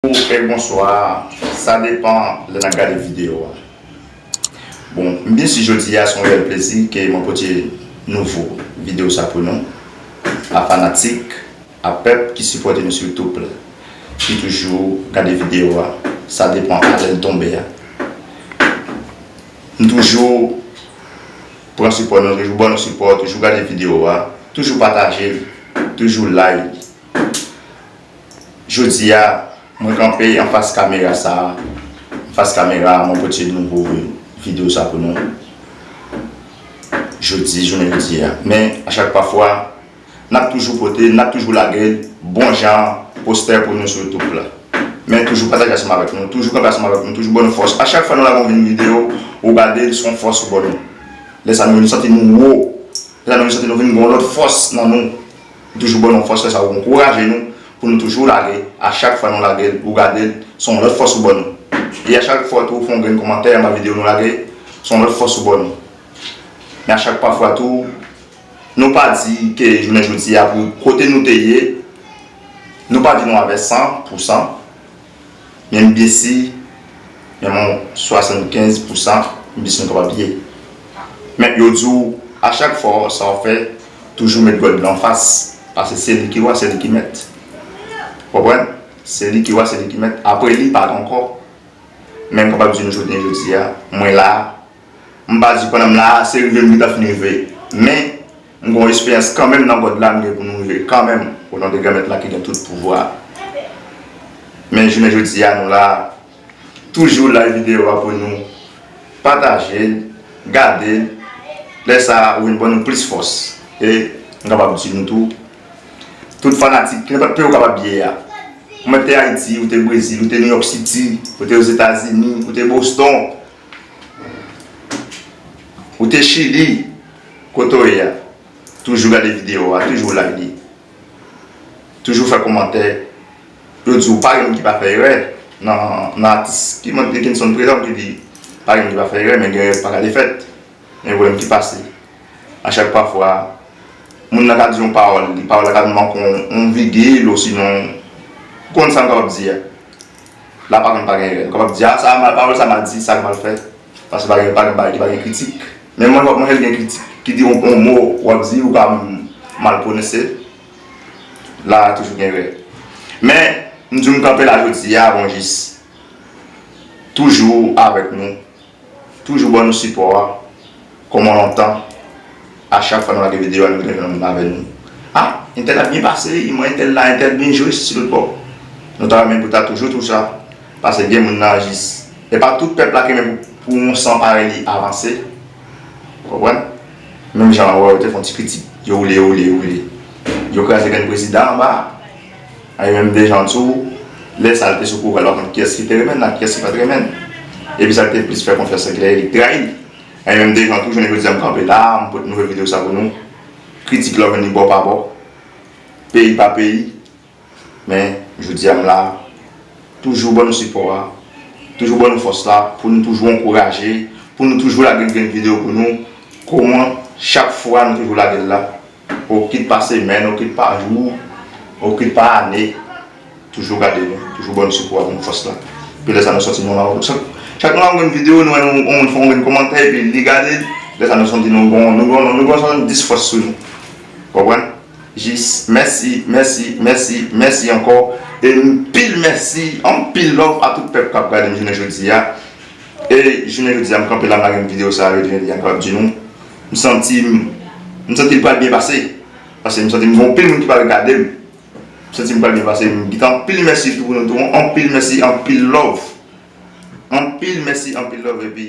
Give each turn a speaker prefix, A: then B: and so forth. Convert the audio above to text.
A: Ok bonswa sa depan lè nap gade video a bon m byen si jodia son reyèl plezi ke mwen pote nouvo video sa pou nou a fanatik a pèp ki sipòte nou sou youtube la ki toujou gade video a sa depan a lèl tonbe a m toujou pran sipò nou toujou ban nou sipò toujou gade video a toujou patajel toujou like. Jodi a, mwen kanpe anfas kamera sa a. Anfas kamera a, mwen pote yon nouvo videyo sa pou nou. Jodi, jounen jodi a. Men, a chak pa fwa, n ap toujou pote, n ap toujou lage bon jan postè pou nou sou YouTube la. Men, toujou pataje ansanm avèk nou, toujou kanpe ansanm avèk nou, toujou ban nou fòs. A chak fwa nou lage yon videyo, ou gade l, se yon fòs ou ban nou. Lè sa nou vin santi nou wo. Lè sa nou vin santi nou vin gen yon lòt fòs nan nou. Ou toujou ban nou fòs lè sa ou ankouraje nou pou nou toujou lage a chak fwa nou lagel ou gadel son lòt fòs ou ban nou e a chak fwa tou ou fè yon grenn kòmantè anba video nou lage son lòt fòs ou ban nou men a chak pafwa tou nou pa di ke jounen jodi a pou kote nou te ye nou pa di nou avè 100 pou 100. Menm byen si menm yon 75 pou san byen si nou kapab ye. Men yo di w a chak fwa sa w fè toujou met God lan fas pase se li ki wa se li ki mèt. Ou konprann? Se li ki wa se li ki mèt apre li pa gen ankò. Men m kapab di nou jounen jodi a mwen la a. M pa di pandan m la a se rive m gentan fin rive men M gon esperyans kanmenm nan God la m gen pou nou rive kanmenm o non de Granmèt la ki gen tout pouvwa men jounen jodi a nou la toujou live video a pou nou pataje l gade l lè sa ou vin ban nou plis fòs e m kapab di nou tou tout fanatik nenpòt peyi ou kapab ye a ou mèt te Ayiti ou te Brezil ou te New York City ou te Ozetazini ou te Boston ou te Chili. Kote w ye a? Toujou gade video a, toujou like, toujou fè komantè, yo di w pa gen moun ki pa fè erè nan atis ki mwen te gen son prezan ki di pa gen moun ki pa fè erè men gen erè ki pa ka te fèt men gen pwoblèm ki pase a chak pafwa moun nan ka di yon pawòl, pawòl la ka manke yon vigil osinon ou konn sa m kapab di a. La pa konn pa gen erè. Nou kapab di, a sa a mal, pawòl sa a mal di, sa a mal fèt. Paske pa gen, pa gen bagay ki pa gen kritik. Men mwen wè, mwen jwenn gen kritik ki di yon, yon mo w ap di, ou pa mal pwononse, la a toujou gen erè. Men, m di w m kanpe la jodi a, bon jis. Toujou avèk nou. Toujou ban nou sipò a Koman lontan A chak fwa nou lage video a nou gen nan lave nou A Intel ap byen pase wi Mwen Intel la Intel byen jwe sou tout bò Nou ta renmen pou ta toujou tou sa Pase gen moun nan jis E pa tout pèp la ki renmen pou yon san parèy li avanse Ou konprann Menm jan an wè yo te fon ti pitit Yo woule yo woule yo woule Yo kraze grenn prezidan anba a Li menm Dejan tou, lè sa l te sou pouvwa l pa konn kiyès ki te renmen l ak kiyès ki pa t renmen l. Epi sa l te plis fè konfyans se Klèyè ki te trayi l. Li menm Dejan tou, jounen jodi a m kanpe la a, m pote nouvo videyo sa pou nou. Kritik la w jwenn li bò pa bò, peyi pa peyi. Men, jodi a m la a, toujou ban nou sipò a, toujou ban nou fòs la pou nou toujou ankouraje, pou nou toujou lage grenn videyo pou nou, kouman chak fwa nou toujou lage l la. O kit pa semèn, o kit pa jou, o kit pa ane, toujou gade nou, toujou ban nou sipò ak menm fòs la. Epi lè sa nou sòti nan yon avan, chak chak nou ap gade yon videyo, nou wè yon moun fè yon grenn kòmantè epi li gade l, lè sa nou santi nou gon, nou gon, nou gon 70 fòs sou nou. Ou konprann? Jis mèsi, mèsi, mèsi, mèsi ankò e anpil mèsi, anpil love a tout pèp k ap gade m jounen jodi a. E jounen jodi a m kanpe la m lage m videyo sa a yo di nou. M santi m M santi l pral byen pase Paske m santi m gen anpil moun ki pral gade l M santi m pral byen pase M gite anpil mèsi tou pou nou tou Anpil mèsi anpil love Anpil mèsi anpil love epi.